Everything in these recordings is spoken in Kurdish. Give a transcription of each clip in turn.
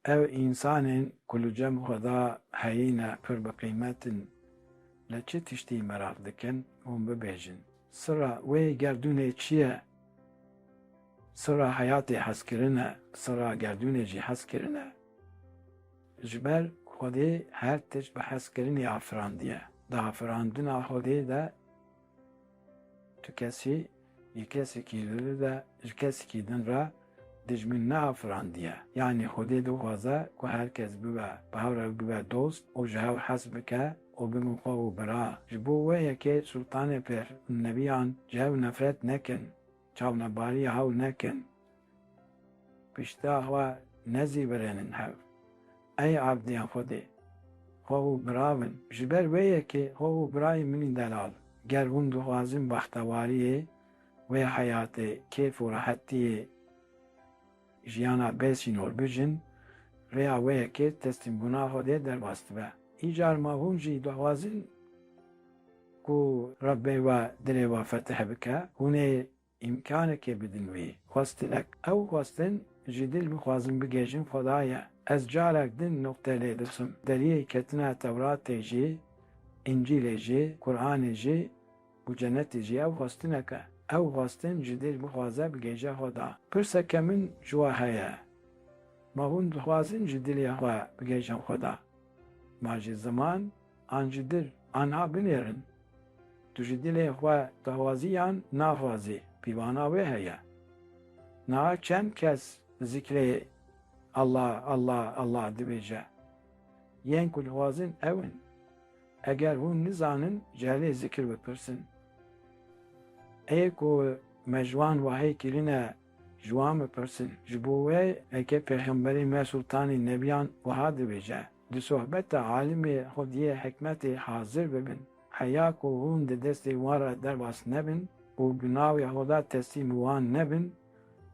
Ev însanên ku li cem xwe de heyîne pir bi qîmet in. Li çi tiştî meraq dikin? Hûn bibêjin. Sira wê gerdûnê çi ye? Sira heyatê hezkirin e, sira gerdûnê jî hezkirin e. Ji ber Xwedê her tişt bi hezkirinê afirandiye. Di afirandina Xwedê de, Tu kesî yê kesekî li li de ji kesekî din re dijmin neafirandiye. Yanî Xwedê dixwaze ku her kes bibe bi hev re bibe dost û ji hev hez bike û bibin xwe û bira. Ji bo wê yekê Sultanê pir û nebiyan ji hev nefret nekin. Çavnebariya hewl nekin, pişta xwe nezîvirênin hev. Ey erdên Xwedê, xwe û bira bin. Ji ber wê yekê xwe û birayên min ên delal, ger hûn dixwazin bextewariyê wê heyatê kêf û rehetiyê jiyana bê sînor bijin, rêya wê yekê teslîmbûna Xwedê derbas dibe. Îcar ma hûn jî dixwazin. Ku Rebbê we dilê we fetih bike, hûn ê îmkanekê bidin wî. Xwestinek, ew xwestin ji dil bixwazin bigihîjin Xwedayê. Ez carek din nuqte lê dikim, deriyê ketina Tewratê jî, Încîlê jî, Quranê jî û cenetê jî ew xwestinek e. Ew xwestin ji dil bixwaze bigihîje Xweda. Pirseke min ji we heye, Ma hûn dixwazin ji dilê xwe bigihîjin Xweda? Ma ji ziman? An ji dil anha binêrin. Tu ji dilê xwe dawaziyan naxwazî, pîvana wê heye. Niha çend kes zikrê Allah, Allah, Allah dibêje. Yên ku dixwazin ew in. Eger hûn nizanin cehlê zikr bipirsin. Ê ku me ji wan wahî kirine ji wan bipirsin. Ji bo wê eke pêxemberê me Sultanê Nebiyan wiha dibêje. Di sohbeta alimê xwediyê hikmetê hazir bibin, heya ku hûn di destê wan re derbas nebin û bi navê Xweda teslîm wan nebin,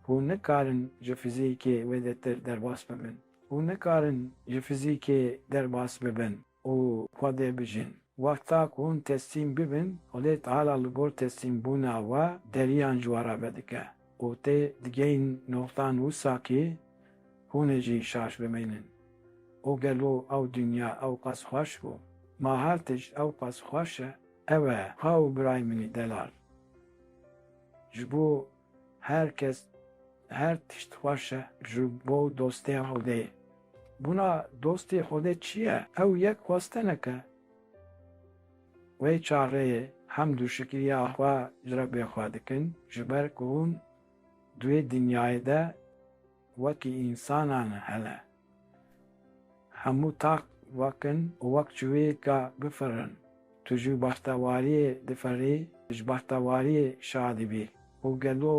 hûn nikarin ji fizîkê wêdetir derbas bibin. Hûn nikarin ji fizîkê derbas bibin û Xwedê bijîn. Wexta ku hûn teslîm bibin, Xwedê Teala li gor teslîmbûna we deriyan ji we re vedike. Ku tê digihîn noxtan wisa kî hûn ê jî şaş bimînin. Û gelo ew dinya ew qas xweş bû? Ma her tişt ew qas xweş e? Ew e, ha û birayê minî Delal. Ji bo her kes her tişt xweş e. Ji bo dostê Xwedê. Bûna dostê Xwedê çi ye? Ew yek xwestineke. Wê çaxê hemd û şikriya xwe ji Rebê xwe dikin ji ber ku hûn di wê dinyayê de wekî însanan hene. Hemû taq wek in û wek çiviyêka bifirin. Tu ji bextewariyê diferî, ji bextewariyê şadî bî û gelo.